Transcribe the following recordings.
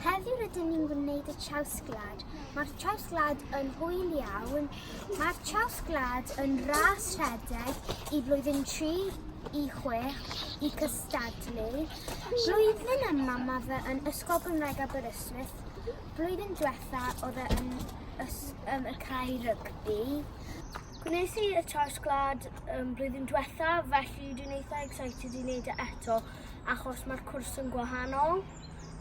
Heddiw rydyn ni'n gwneud y trawsglad. Mae'r trawsglad yn hwyl iawn. Mae'r trawsglad yn ras rhedeg i flwyddyn 3 i 6 i cystadlu. Blwyddyn yma mae fe yn Ysgol Gymraeg Aberystwyth. Blwyddyn diwetha oedd e yn ys, um, y cae rygbi. Gwnes i y trawsglad um, blwyddyn diwetha, felly dwi'n eitha excited i wneud e eto, achos mae'r cwrs yn gwahanol.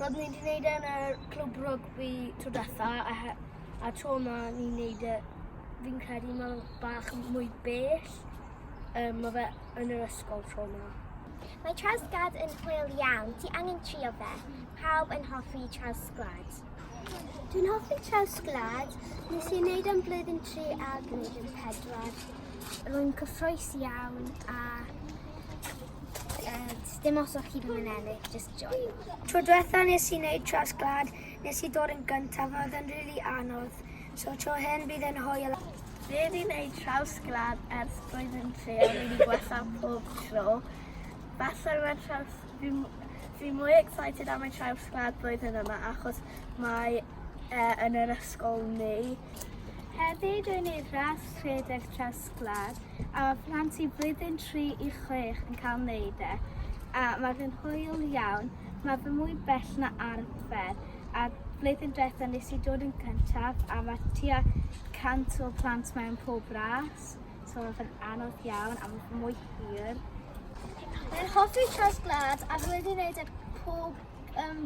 Roeddwn i wedi gwneud e yn y clwb rygbi tro diwetha a, he- a tro yma ni'n gwneud e, fi'n credu mae fe bach yn mwy bell. Um, mae fe yn yr ysgol tro yma. Mae trawsglad yn hwyl iawn, ti angen trio fe. Pawb yn hoffi trawsglad. Dwi'n hoffi trawsglad, nes i'n neud am blwyddyn 3 a gwneud yn pedwar. Rwy'n cyffroes iawn a Dim os o'ch chi ddim yn ennill, just joy. Tro diwetha nes i wneud tras glad, nes i ddod yn gyntaf, mae oedd yn rili really anodd. So tro hyn bydd yn hwyl. Fe di wneud traws glad ers roedd yn tre, a wedi gwella pob tro. Falle mae traws... Fi, fi mwy excited am y traws glad blwyddyn yma achos mae e, yn yr ysgol ni. Hefyd rwy'n ei ras rhedeg traws Castell-nant-Gwlad a mae plant i blwyddyn 3 i 6 yn cael wneud e a mae fe'n hwyl iawn, mae fe mwy bell na arfer a blwyddyn diwethaf nes i dod yn cyntaf a mae tua 100 o plant mewn pob ras, so mae fe'n anodd iawn a mae mwy hir. Fe'n hoffi tras gwlad a rwy'n ei wneud e pob um,